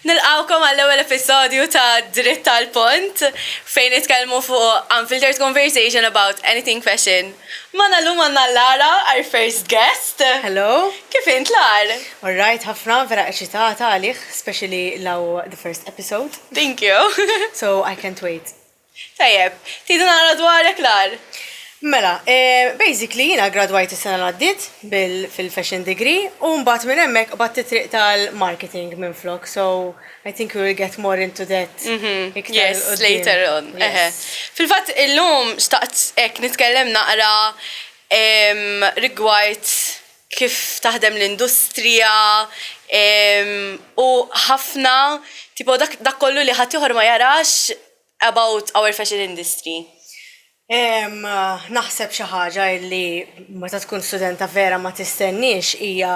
Nilqawkom għall-ewwel episodju ta' Dritt tal-Pont fejn nitkellmu fuq unfiltered conversation about anything fashion. Mana llum għandna Lara, our first guest. Hello. Kif int, Lar? All right ħafna, vera eċitata għalih, especially li hawn the first episode. Thank you. So I can't wait. Tajjeb, tgħidu naqra dwarek l-agħar? Mela, basically jiena gradwajt is-sena li għaddiet fil-fashion degree u mbagħad minn hemmhekk qbadt it-triq tal-marketing minflok, so I think we will get more into that iktar 'il quddiem. Later on. Fil-fatt illum xtaqt hekk nitkellem naqra rigward kif taħdem l-industrija u ħafna tipo dak kollu li ħaddieħor ma jarax about our fashion industry. Naħseb xi ħaġa li meta tkun studenta vera ma tistenniex hija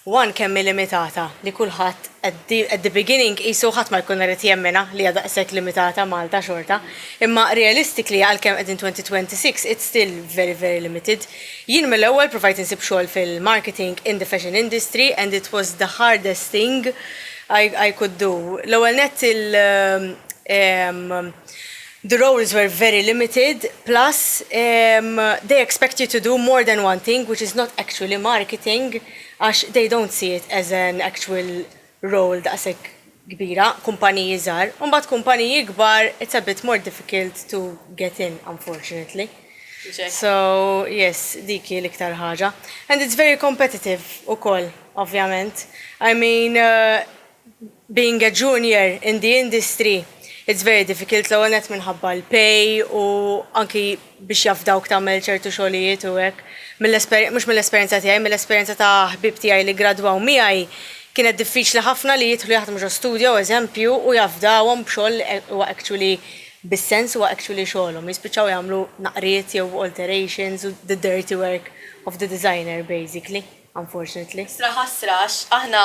one kemm hi limitata li kulħadd At the at the beginning qisu ħadd ma jkun irid jemminha li hija daqshekk limitata Malta xorta. Imma realistically għalkemm qegħdin 2026 it's still very very limited. Jien mill-ewwel provajt insib xogħol fil-marketing in the fashion industry and it was the hardest thing I I could do. L-ewwel nett il ehm the roles were very limited plus ehm they expect you to do more than one thing which is not actually marketing għax they don't see it as an actual role daqshekk kbira, kumpaniji żgħar, u mbagħad kumpaniji kbar it's a bit more difficult to get in unfortunately. So yes, dik hi l-iktar ħaġa. And it's very competitive ukoll, ovvjament. I mean, Being a junior in the industry it's very difficult l-ewwel nett minħabba l-pay u anki biex jafdawk tagħmel ċertu xogħlijiet u hekk. Mill-esperjenza, mhux mill-esperjenza tiegħi, mill-esperjenza ta' ħbieb tiegħi li ggradwaw miegħi kienet diffiċli ħafna li jidħlu jaħdmu ġo studio, eżempju, u jafdawhom b'xogħol li huwa actually bis-sens, huwa actually xogħolhom. Jispiċċaw jagħmlu naqriet jew alterations u the dirty work of the designer basically, unfortunately. Ħasra ħasra għax aħna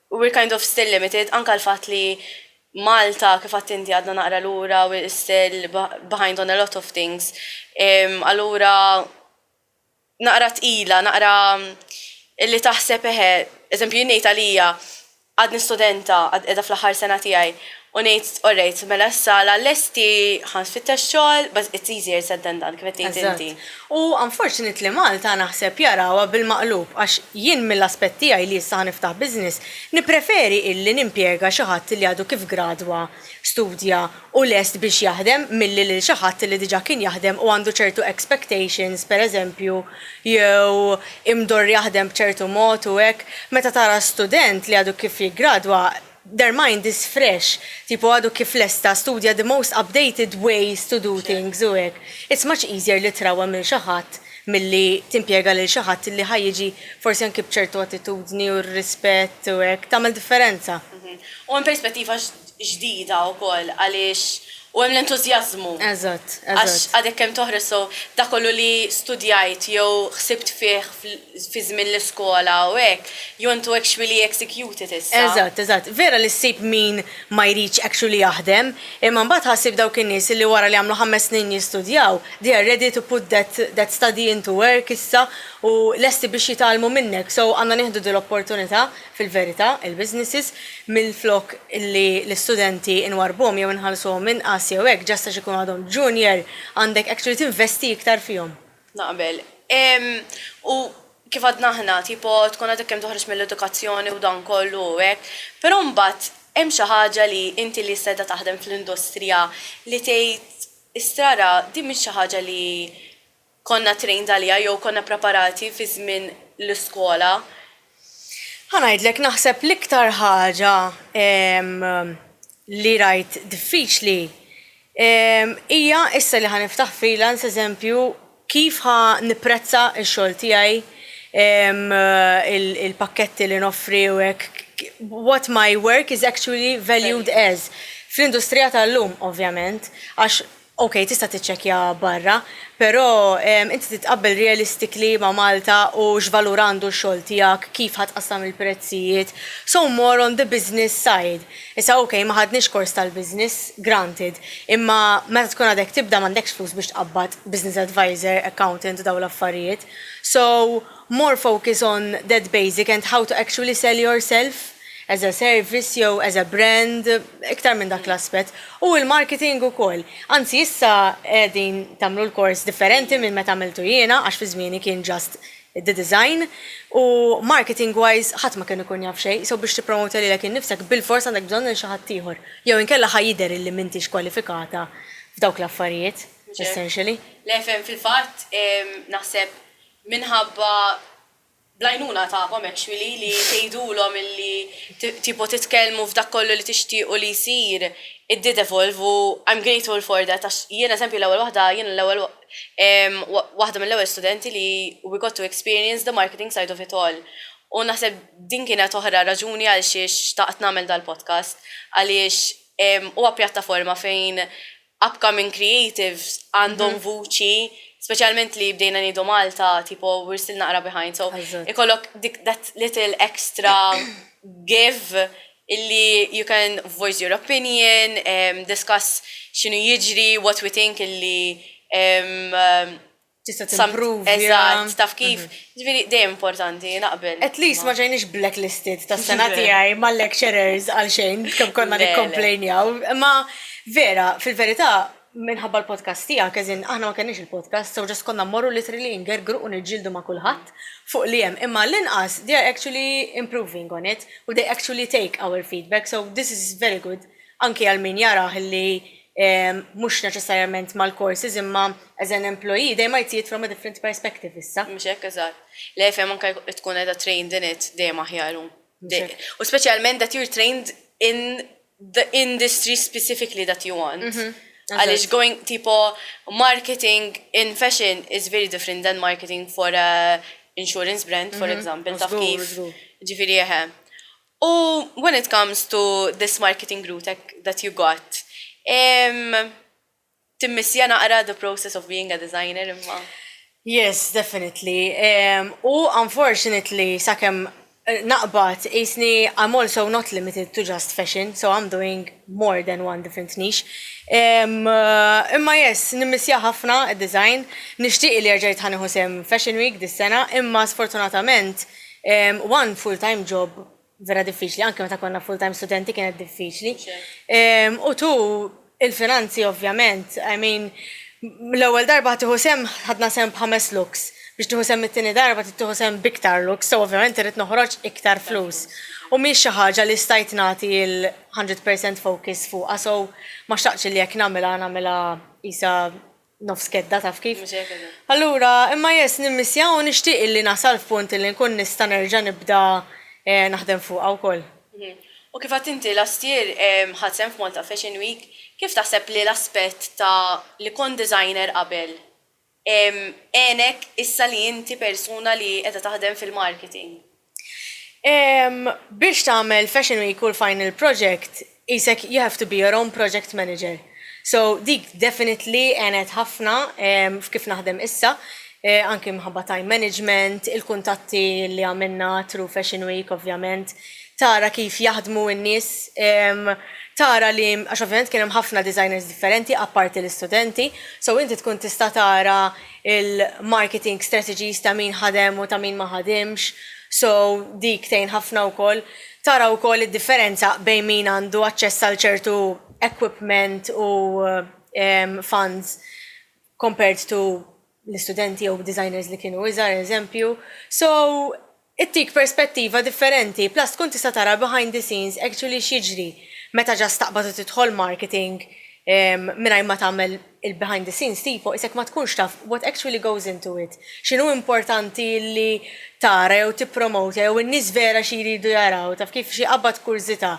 We're kind of still limited, anka l-fatt li Malta, kif għadt inti, għadna naqra lura, we're still behind on a lot of things. Allura naqra tqila, naqra li taħseb eħe, eżempju jien ngħid għalija, għadni studenta, għad qiegħda fl-aħħar sena tiegħi, u ngħid orrejt, mela issa la lesti ħa nfittex xogħol, but it's easier said than done, kif qed tgħid inti. U unfortunately Malta naħseb jarawha bil-maqlub għax jien mill-aspett tiegħi li issa ħa niftaħ business nippreferi illi nimpjega xi ħadd li għadu kif gradwa, studja u lest biex jaħdem milli lil xi ħadd li diġa kien jaħdem u għandu ċertu expectations per eżempju jew imdorr jaħdem b'ċertu mod u hekk meta tara student li għadu kif jiggradwa Their mind is fresh, tipo għadu kif lesta, studja the most updated ways to do things u hekk. It's much easier li trawwem lil xi ħadd milli timpjega lil xi ħadd li ħa jiġi forsi anki b'ċertu attitudni u rispett u hekk. Tagħmel differenza. U hemm perspettiva ġdida wkoll għaliex u hemm l-entużjażmu. Eżatt, eżatt. Għax għadek kemm toħroġ so dak kollu li studjajt jew ħsibt fih fi żmien l-iskola u hekk, jontu actually executed issa. Eżatt, eżatt. Vera li ssib min ma jridx actually jaħdem, imma mbagħad ħa ssib dawk in-nies li wara li għamlu ħames snin jistudjaw, they are ready to put that that study into work issa u lesti biex jitgħallmu minnek. So għandna nieħdu din l-opportunità, fil-verità, il-businesses, minflok li l-istudenti nwarrbuhom jew inħallsuhom inqas jew hekk, just għax ikunu għadhom junior, għandek actually tinvesti iktar fihom. Naqbel. Ehm, u kif għadna aħna, tipo tkun għadek kemm toħroġ mill-edukazzjoni u dan kollu u hekk, però mbagħad hemm xi ħaġa li inti li issa qiegħda taħdem fl-industrija li tgħid, istrara din mhix xi ħaġa li konna trained għaliha jew konna ppreparati fi żmien l-iskola. Ħa ngħidlek naħseb l-iktar ħaġa li rajt diffiċli hija issa li ħa niftaħ freelance eżempju kif ħa nipprezza x-xogħol tiegħi, il-pakketti li noffri u hekk, what my work is actually valued as fl-industrija tal-lum ovvjament għax Ok tista tiċċekkja barra, pero inti titqabbel realistically ma Malta u x'valur għandu x-xogħol tiegħek, kif ħa tqassam il-prezzijiet, so more on the business side. Issa ok ma ħadniex kors tal-business, granted, imma meta tkun għadek tibda m'għandekx flus biex tqabbad business advisor, accountant u dawn l-affarijiet. So, More focus on that basic and how to actually sell yourself as a service jew as a brand, iktar minn dak l-aspett. U l-marketing ukoll. Anzi issa qegħdin tagħmlu l-kors differenti minn meta għamiltu jiena għax fi żmieni kien just the design u marketing wise ħadd ma kien ikun jaf xejn, so biex tippromota lilek innifsek bilfors għandek bżonn lil xi ħadd ieħor. Jew inkella ħa jidher illi m'intix kwalifikata f'dawk l-affarijiet, essentially. Le, fil-fatt naħseb Minħabba bl-għajnuna tagħkom actually li tgħidulhom illi tipo titkellmu f'dak kollu li tixtiequ li jsir it did evolve u I'm grateful for that għax jien eżempju l-ewwel waħda jiena l-ewwel waħda mill-ewwel studenti li we got to experience the marketing side of it all u naħseb din kienet oħra raġuni għalxiex xtaqt nagħmel dal-podcast għaliex huwa pjattaforma fejn upcoming creatives għandhom vuċi, speċjalment li bdejna ngħidu Malta, tipo we're still naqra behind, so ikollok dik that little extra give illi you can voice your opinion, discuss x'inhu jiġri, what we think illi Tista' timpruvja. Eżatt, taf kif. Ġifieri dejjem importanti, naqbel. At least ma ġejniex blacklisted tas-sena tiegħi mal-lecturers għal xejn kemm konna nikkomplejnjaw. Imma vera, fil-verità, minħabba l-podcast tiegħek, as in aħna ma kenniex il-podcast, so just konna mmorru literally ingergru u niġġieldu ma' kulħadd fuq li hemm. Imma għall-inqas they are actually improving on it u they actually take our feedback, so this is very good anki għal min jarah li mhux neċessarjament mal-courses imma as an employee dejjem ma jtijiet from a different perspective issa. Mhux hekk eżatt. Le fejn anke tkun qiegħda trained in it dejjem aħjar. U speċjalment that you're trained in the industry specifically that you want. Mhm. Għaliex going tipo marketing in fashion is very different than marketing for a insurance brand, for mhm. example, taf kif. Ġifieri eħe. U when it comes to this marketing route that you got, timmissja naqra the process of being a designer imma? Yes, definitely. U unfortunately, sakemm naqbad, qisni I'm also not limited to just fashion, so I'm doing more than one different niche. Imma yes, nimmissja ħafna d-design. Nixtieq li jerġa' jitħa nieħu sehem Fashion Week dis-sena, imma sfortunatament, One full-time job vera diffiċli, anke meta konna full-time studenti kienet diffiċli. U tu il-finanzi ovvjament, I mean, l-ewwel darba tiħu sem ħadna sem b'ħames looks biex tiħu sem it-tieni darba tiħu sem b'iktar looks, so ovvjament irrid noħroġ iktar flus. U mhix xi ħaġa li stajt nagħti l-100% focus fuqha, so ma xtaqtx li jekk nagħmilha nagħmilha qisha Nofs kedda, taf kif. Mhux hekk eżatt. Allura, imma yes, nimmissja u nixtieq illi nasal f'punt illi nkun nista' nerġa' nibda naħdem fuqha wkoll. U kif għedt inti, last year ħadt sehem f'Malta Fashion Week, kif taħseb li l-aspett ta' li kont designer qabel għenek issa li inti persuna li qiegħda taħdem fil-marketing? Biex tagħmel fashion week u l-final project qisek you have to be your own project manager. So dik definitely għenet ħafna f'kif naħdem issa, anki minħabba time management, il-kuntatti li għamilna through fashion week ovvjament, tara kif jaħdmu n-nies, tara li, għax ovvjament kien hemm ħafna designers differenti apparti l-istudenti, so inti tkun tista' tara il-marketing strategies ta' min ħadem u ta' min ma ħadimx, so dik tgħin ħafna wkoll. Tara wkoll id-differenza bejn min għandu aċċess għal ċertu equipment u funds compared to l-istudenti jew designers li kienu iżgħar eżempju. So Ittik perspettiva differenti, plus tkun tista' tara behind the scenes actually x'jiġri meta just taqbad u tidħol marketing mingħajr ma tagħmel il-behind the scenes tipo isek ma tkunx taf what actually goes into it. X'inhu importanti li tara jew tippromotja jew in-nies vera xi jridu jaraw, taf kif, xi jqabbad kurżità.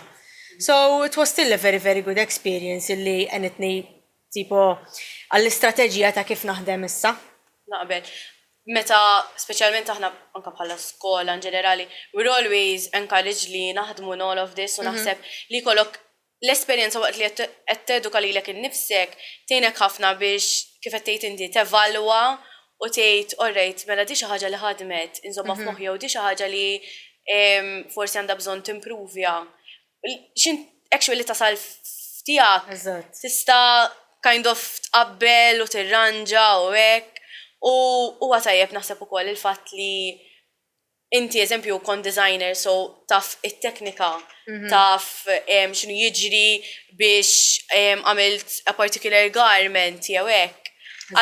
So, it was still a very very good experience illi għenitni Tipo, għall-istrateġija ta' kif naħdem issa. Naqbel. Meta, speċjalment aħna anke bħala skola in ġenerali, we are always encouraged li naħdmu in all of this u naħseb li jkollok l-esperjenza waqt li qed teduka lilek innifsek tgħinek ħafna biex, kif qed tgħid inti, tevalwa u tgħid, all right, mela di xi ħaġa li ħadmet, inżommha f'moħħi jew di xi ħaġa li forsi għandha bżonn timpruvja. Xint actually tasal f'tiegħek. Eżatt. Tista' kind of tqabbel u tirranġa u hekk. U huwa tajjeb naħseb ukoll il-fatt li inti eżempju kont designer so taf it-teknika, taf x'inhu jiġri biex għamilt a particular garment jew hekk.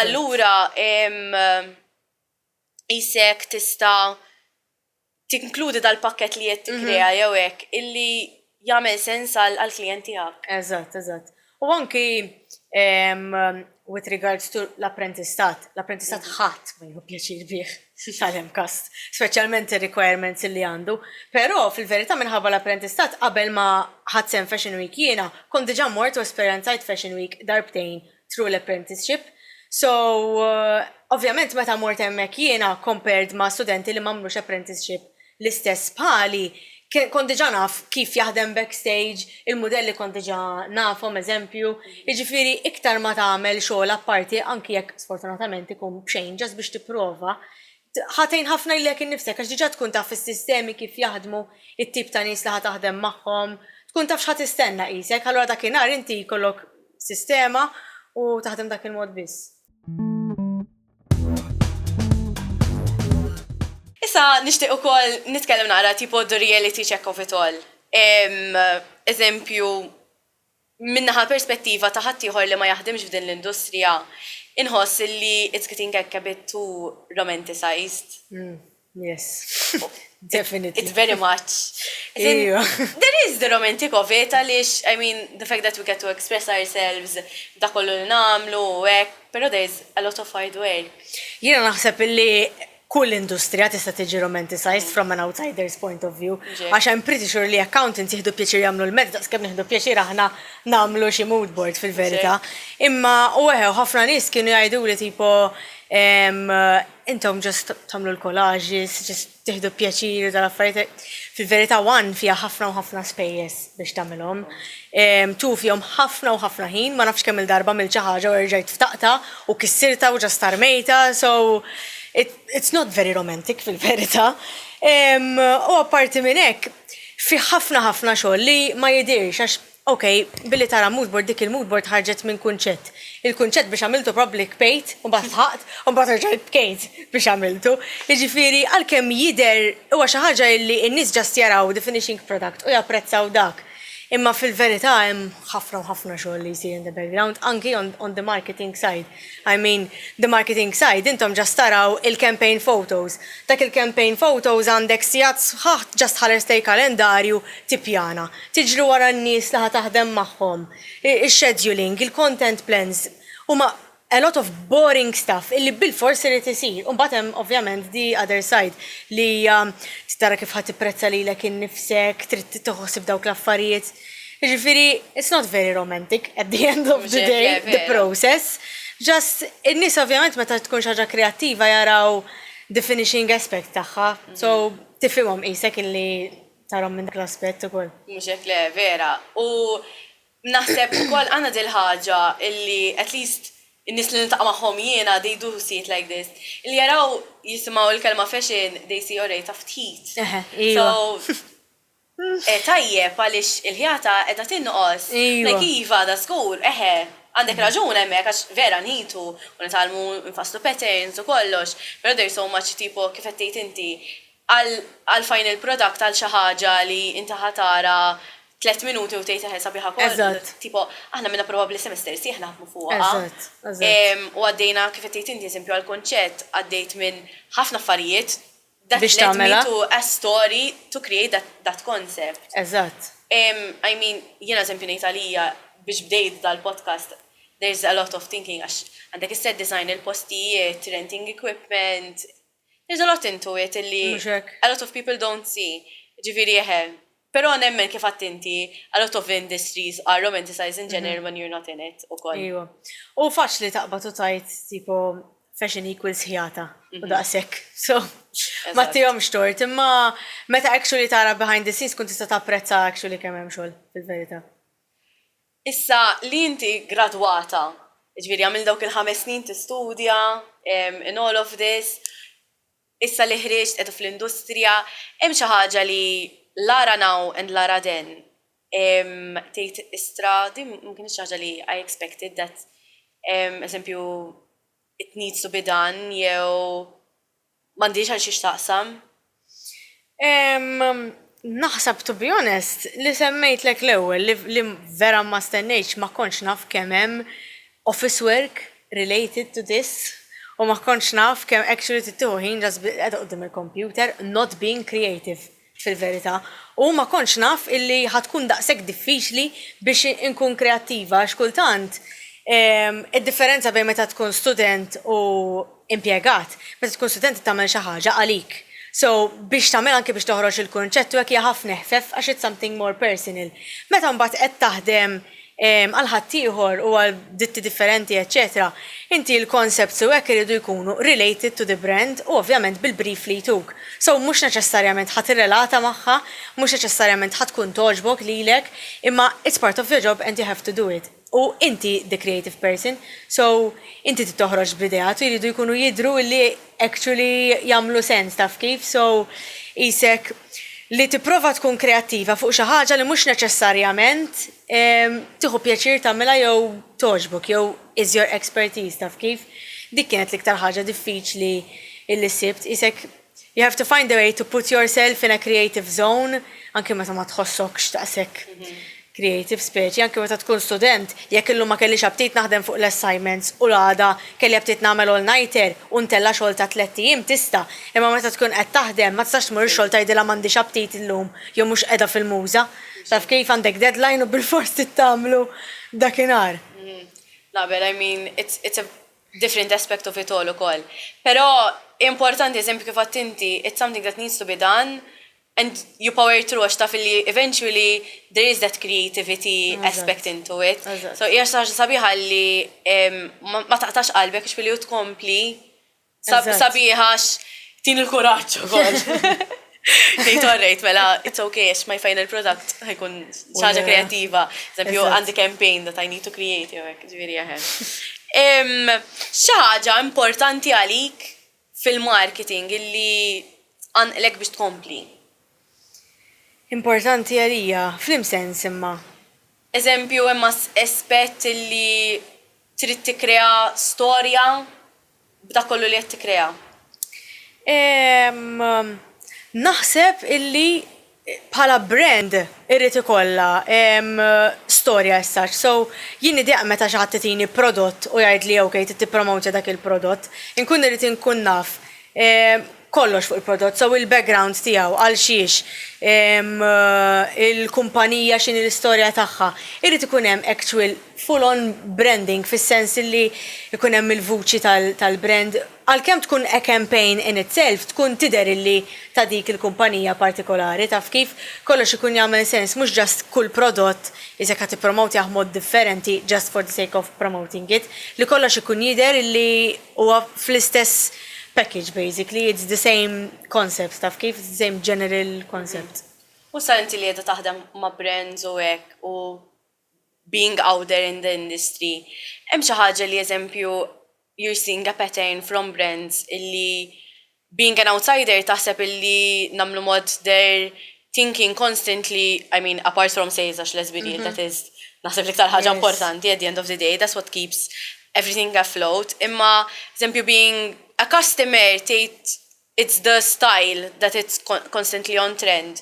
Allura qisek tista' tinkludi dal-pakkett li qed tikkrea jew hekk illi jagħmel sens għall-klijent tiegħek. Eżatt, eżatt. U anki with regards to l-apprentistat, l-apprentistat ħadd ma jieħu pjaċir bih għal MCAST, speċjalment ir-requirements illi għandu. Però fil-verità minħabba l-apprentistat qabel ma ħadt sehem f'Fashion Week jiena kont diġà mort u esperjenzajt Fashion Week darbtejn through l-apprenticeship. So, ovvjament meta mort hemmhekk jiena compared ma' studenti li m'għamlux apprenticeship l-istess bħali, kont diġà naf kif jaħdem backstage, il-mudelli kont diġà nafhom eżempju, jiġifieri iktar ma tagħmel xogħol apparti anki jekk sfortunatament ikun b'xejn just biex tipprova, Ħa tgħin ħafna lilek innifsek għax diġà tkun taf is-sistemi kif jaħdmu, it-tip ta' nies li ħa taħdem magħhom, tkun taf x'ħa tistenna qisek, allura dakinhar inti jkollok sistema u taħdem b'dak il-mod biss. Issa nixtieq ukoll nitkellem naqra tipo the reality check of it all. Eżempju, Minn naħa l-perspettiva ta' ħaddieħor li ma jaħdimx f'din l-industrija, inħoss li it's getting a a bit too romanticized. Yes. Definitely. It's very much. Iva. There is the romantic of it għaliex, I mean, the fact that we get to express ourselves b'dak kollu li nagħmlu u hekk, però there is a lot of hard work. Jiena naħseb illi kull industrija tista' tiġi romanticised from an outsider's point of view għax I'm pretty sure li accountants jieħdu pjaċir jagħmlu l-maths daqs kemm nieħdu pjaċir aħna nagħmlu xi mood board fil-verità. Imma u eħe u ħafna nies kienu jgħiduli tipo ehm intom just tagħmlu l-collages, just tieħdu pjaċir u dal-affarijiet. Fil-verità one fiha ħafna u ħafna spejjeż biex tagħmilhom. Two fihom ħafna u ħafna ħin, ma nafx kemm-il darba għamilt xi ħaġa u erġajt ftaqtha u kissirtha u ġa starmejtha, so it's not very romantic fil-verità. U apparti minn hekk, fih ħafna ħafna xogħol li ma jidhirx għax Ok, billi tara mood board, dik il-mood board ħarġet minn kunċett. Il-kunċett biex għamiltu probably kbejt, u mbagħad dħaqt, u mbagħad erġajt bkejt biex għamiltu. Jiġifieri għalkemm jidher huwa xi ħaġa illi n-nies just jaraw the finishing product u japprezzaw dak. Imma fil-verità hemm ħafna u ħafna xogħol li jsir in the background, anki on the marketing side. I mean the marketing side, intom just taraw il-campaign photos. Dak il-campaign photos għandek sigħat sħaħ just tħares lejn kalendarju tippjana, tiġri wara n-nies li ħa taħdem magħhom, ix-scheduling, il-content plans, huma a lot of boring stuff illi bilfors irid isir. U mbagħad hemm ovvjament the other side li hija tara kif ħa tipprezza lilek innifsek, trid tieħu ħsieb dawk l-affarijiet. Ġifiri, it's not very romantic at the end of the day, the process. Just, in-nis ovvjament meta tkun xaġa kreativa jaraw the finishing aspect tagħha. Mhm. So, tifhimhom qisek illi tarom minn dak l-aspett ukoll. Mhux hekk le, vera. U naħseb ukoll għandna dil-ħaġa illi at least in-nies li niltaqa' magħhom jiena they do see it like this. Li jaraw jisimgħu l-kelma fashion they see already taf tħit. So tajjeb għaliex il-ħjata qiegħda tinqos. Like iva da żgur, eħe, għandek raġun hemmhekk għax vera nħitu u nitgħallmu nfasslu patterns u kollox, però there's so much tipo kif qed tgħid inti għal final product għal xi ħaġa li inti ħa tara tliet minuti u tgħid eħe sabiħa kollox, tipo aħna minna probabbli semester sħiħ naħdmu fuqha u għaddejna kif qed tgħid inti eżempju għall-kunċett għaddejt minn ħafna affarijiet biex tagħmilha. That led me to a story to create that that concept. Eżatt. I mean, jien eżempju ngħid għalija biex bdejt dal-podcast there is a lot of thinking għax għandek is-set design, il-postijiet, renting equipment, there is a lot into it illi a lot of people don't see. Ġifieri eħe. Però nemmen kif għadt inti, a lot of industries are romanticized in general when you're not in it ukoll. Ejwa. U faċli taqbad u tgħid tipo fashion equals ħjata u daqshekk. So, ma tihomx tort. Imma meta actually tara behind the scenes tkun tista' tapprezza actually kemm hemm xogħol fil-verità. Issa li inti gradwata, jiġifieri għamilt dawk il-ħames snin tistudja in all of this, Issa li ħriġt qiegħda fl-industrija, hemm xi ħaġa li la ara now and la ara then. Tgħid istra, din ma kinitx xi ħaġa li I expected that eżempju it needs to be done jew m'għandhiex għal xiex taqsam. Naħseb to be honest li semmejtlek l-ewwel li vera ma stennejtx ma kontx naf kemm hemm office work related to this u ma kontx naf kemm actually trid tieħu ħin just biex qiegħda quddiem il-computer not being creative fil-verità u ma kontx naf illi ħa tkun daqshekk diffiċli biex inkun kreattiva għax kultant id-differenza bejn meta tkun student u impjegat, meta tkun student trid tagħmel xi ħaġa għalik. So, biex tagħmel anki biex toħroġ il-kunċett u hekk hija ħafna eħfef għax it's something more personal. Meta mbagħad qed taħdem għal ħaddieħor u għal ditti differenti eċċetera, inti l-concepts u hekk iridu jkunu related to the brand u ovvjament bil-brief li jtuk. So, mhux neċessarjament ħa tirrelata magħha, mhux neċessarjament ħa tkun togħġbok lilek, imma it's part of your job and you have to do it. U inti the creative person, so inti trid toħroġ b'ideat u jridu jkunu jidhru li actually jagħmlu sens taf kif, so qisek li tipprova tkun kreattiva fuq xi ħaġa li mhux neċessarjament tieħu pjaċir tagħmilha jew togħġbok jew is your expertise taf kif. Dik kienet l-iktar ħaġa diffiċli illi sibt, qisek You have to find a way to put yourself in a creative zone anki meta ma tħossokx daqshekk creative speċi anki meta tkun student, jekk illum ma kellix aptit naħdem fuq l-assignments u l-għada kelli aptit nagħmel all-nighter u ntella' xogħol ta' tlett ijiem tista', imma meta tkun qed taħdem ma tistax tmur ix-xogħol tgħidilha m'għandix aptit illum jew mhux qiegħda fil-muża. Taf kif, għandek deadline u bilfors trid tagħmlu dakinhar. Naqbel, I mean it's it's a different aspect of it all ukoll. Però importanti, eżempju kif għedt inti, it's something that needs to be done and you power through għax taf li eventually there is that creativity aspect into it. So hija xi ħaġa sabiħa li ma taqtax qalbek jiġifieri li tkompli sabiħa għax tini l-kuraġġ ukoll. Tgħid orrejt, mela it's okay għax my final product ħajkun ċaġa kreativa. Eżempju, għandi campaign that I need to create, jew hekk, ġifieri jaħem. Xi ħaġa importanti għalik fil-marketing illi tqanqlek biex tkompli? Importanti għalija, f'liem sens imma? Eżempju, hemm aspett illi trid tikkrea storja? b'dak kollu li qed tikkrea? Ehm, naħseb illi bħala brand irrid ikollha, ehm, storja as such. So, jien nidhiaq meta xi ħadd itini prodott u jgħidli ok trid tippromowtja dak il-prodott. Inkun irrid inkun naf, ehm, kollox fuq il-prodott, so il-background tiegħu, għal xiex, il-kumpanija x'inhi l-istorja tagħha. Irid ikun hemm actual full on branding fis-sens illi jkun hemm il-vuċi tal-brand. Għalkemm tkun a campaign in itself tkun tidher illi ta' dik il-kumpanija partikolari, taf kif? Kollox ikun jagħmel sens, mhux just kull prodott is jekk ħa tippromotjah mod differenti just for the sake of promoting it, li kollox ikun jidher illi. Huwa fl-istess package basically, it's the same concept taf kif, it's the same general concept. U issa inti li qiegħda taħdem ma' brands u hekk u being out there in the industry, hemm xi ħaġa li eżempju you're seeing a pattern from brands illi Being an outsider taħseb illi nagħmlu mod they're thinking constantly, I mean apart from sales għax let's be real that is naħseb l-iktar ħaġa importanti at the end of the day, that's what keeps everything afloat, imma eżempju being a customer tgħid it's the style that it's constantly on trend,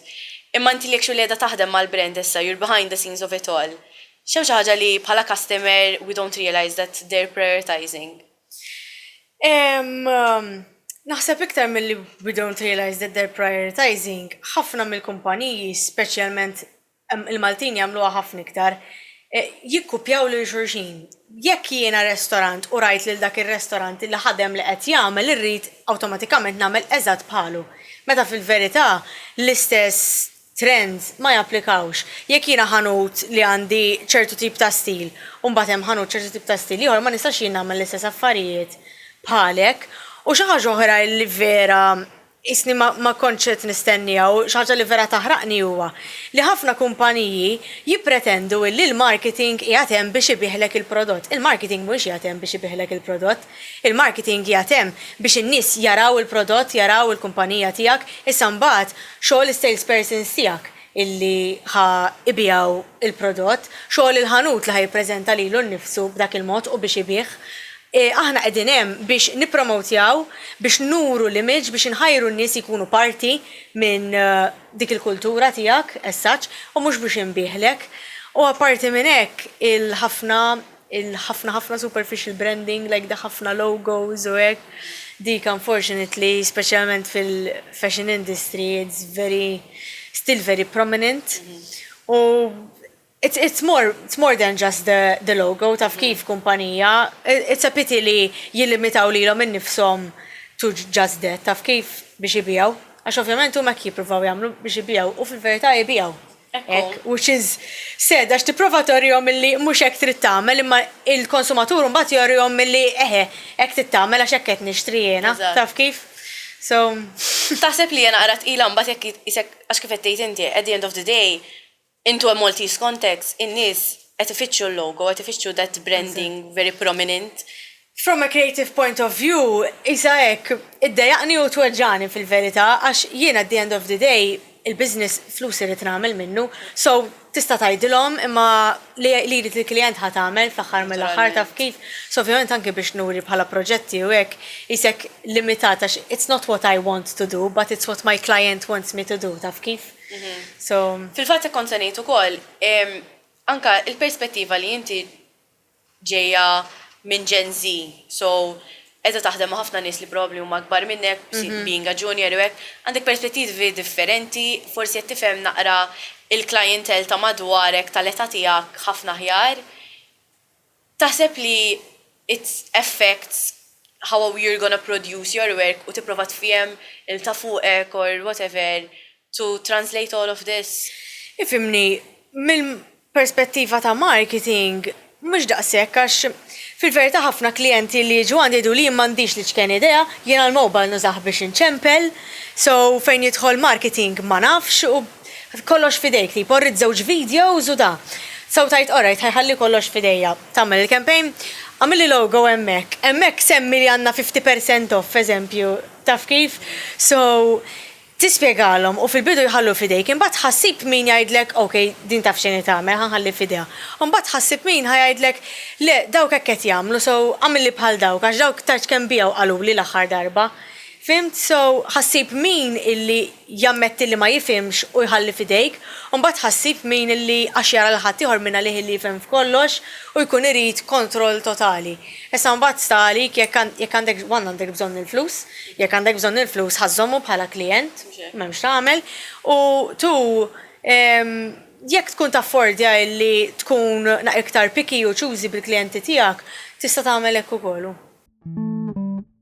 imma inti li actually qiegħda taħdem mal-brand issa, you're behind the scenes of it all, x'hemm xi ħaġa li bħala customer we don't realise that they're prioritising? Naħseb iktar milli we don't realise that they're prioritising, ħafna mill-kumpaniji, speċjalment il-Maltin jagħmluha ħafna iktar, jikkupjaw lil xulxin. Jekk jiena restorant u rajt lil dak ir-restorant li ħadem li qed jagħmel irrid awtomatikament nagħmel eżatt bħalu. Meta fil-verità l-istess trends ma japplikawx. Jekk jiena ħanut li għandi ċertu tip ta' stil u mbagħad hemm ħanut ċertu tip ta' stil ieħor ma nistax jien nagħmel l-istess affarijiet bħalek. U xi ħaġa oħra li vera qisni ma kontx qed nistennieha u xi ħaġa li vera taħraqni huwa li ħafna kumpaniji jippretendu illi l-marketing qiegħed hemm biex ibiegħlek il-prodott. Il-marketing mhuwiex qiegħed hemm biex ibiegħlek il-prodott. Il-marketing qiegħed hemm biex in-nies jaraw il-prodott, jaraw il-kumpanija tiegħek, issa mbagħad xogħol is-salespersons tiegħek illi ħa jbigħu l-prodott, xogħol il-ħanut li ħa jippreżenta lilu nnifsu b'dak il-mod u biex ibigħ. Aħna qegħdin hemm biex nippromowtjaw, biex nuru l-image, biex inħajru n-nies ikunu parti minn dik il-kultura tiegħek as such u mhux biex inbigħlek. U apparti minn hekk il-ħafna il-ħafna ħafna superficial branding like the ħafna logos u hekk, dik unfortunately speċjalment fil-fashion industry it's very still very prominent u it's it's more it's more than just the the logo taf kif kumpanija it's a pity li jillimitaw lilhom innifshom to just that taf kif biex ibigħu għax ovvjament huma hekk jippruvaw jagħmlu biex ibigħu u fil-verità ibigħu. Hekk hu x'iż. Said għax tipprova torihom illi mhux hekk trid tagħmel imma il-konsumatur mbagħad jorihom illi eħe hekk trid tagħmel għax hekk qed nixtri jiena. Taf kif? So. Taħseb li hija naqra tqila mbagħad jekk jitqisek għax kif qed tgħid inti at the end of the day into a Maltese context in-nies qed ifittxu l-logo qed ifittxu that branding very prominent From a creative point of view, qisha hekk, iddejjaqni u tweġġagħni fil-verità għax jien at the end of the day il-business flus irrid nagħmel minnu, so tista' tgħidilhom imma li jrid il-klijent ħa tagħmel fl-aħħar mill-aħħar taf kif? So ovvjament anki biex nuri bħala proġetti u hekk qisek limitat għax it's not what I want to do but it's what my client wants me to do taf kif? So. Fil-fatt hekk kont se ngħid ukoll, anke il-perspettiva li inti ġejja minn Gen Z, so qiegħda taħdem ma' ħafna nies li probabbli huma akbar minnek, being a junior u hekk, għandek perspettivi differenti, forsi qed tifhem naqra il-clientele ta' madwarek tal-età tiegħek ħafna aħjar. Taħseb li it affects how you're gonna produce your work u tipprova tfiehem il-ta' fuqek or whatever to translate all of this. Ifhimni, minn perspettiva ta' marketing mhux daqshekk għax fil-verità ħafna klijenti li jiġu għandi jgħiduli jien m'għandix l-iċken idea, jiena l-mobile nużah biex inċempel, so fejn jidħol marketing ma nafx u kollox f'idejk tipo rrid żewġ videos u da. So tgħid alright ħa jħalli kollox f'idejja. Tagħmel il-campaign, għamilli logo hemmhekk, hemmhekk semmi li għandna fifty percent off eżempju, taf kif? So Tispjegalhom u fil-bidu jħallu f'idejk, imbagħad tħassib min jgħidlek, ok, din taf xejn qed tagħmel, ħa nħalli f'idejha. U mbagħad tħassib min ħa jgħidlek, le, dawk hekk qed jagħmlu, so għamilli bħal dawk, għax dawk tard kemm biegħu qaluli l-aħħar darba. Fhimt? So, ħassib min illi jammetti li ma jifhimx u jħalli f'idejk, u mbagħad tħassib min illi għax jara lil ħaddieħor minn għalih illi jifhem f'kollox u jkun irid kontroll totali. Issa mbagħad sta għalik jekk għandekx one għandek bżonn il-flus, jekk għandek bżonn il-flus ħa żżommu bħala klijent, m'hemmx x'tagħmel, u two jekk tkun taffordja illi tkun iktar picky u choosy bil-klijenti tiegħek tista' tagħmel hekk ukoll.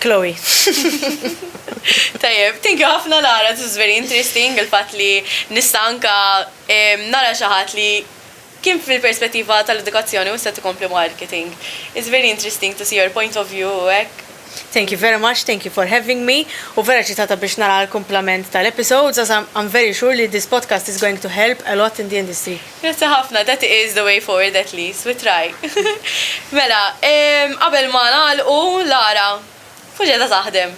Chloe. Tajjeb, thank you ħafna Lara, this was very interesting, il-fatt li nista' anke nara xi ħadd li kien fil-perspettiva tal-edukazzjoni u issa tkompli marketing. It's very interesting to see your point of view u hekk. Thank you very much, thank you for having me, u vera eċitata biex nara l-kumplament tal-episodes għax I'm very sure li this podcast is going to help a lot in the industry. Grazzi ħafna, that is the way forward at least, we try. Mela, qabel ma nagħlqu, Lara, fuxi qiegħda taħdem?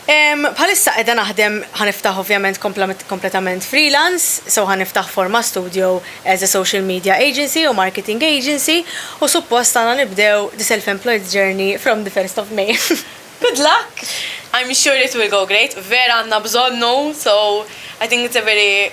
Bħalissa qiegħda naħdem, ħa niftaħ ovvjament kompletament freelance, so ħa niftaħ Forma Studio as a social media agency u marketing agency u suppost għandna nibdew the self employed journey from the first of May. Good luck! I'm sure it will go great, vera għandna bżonnu, so I think it's a very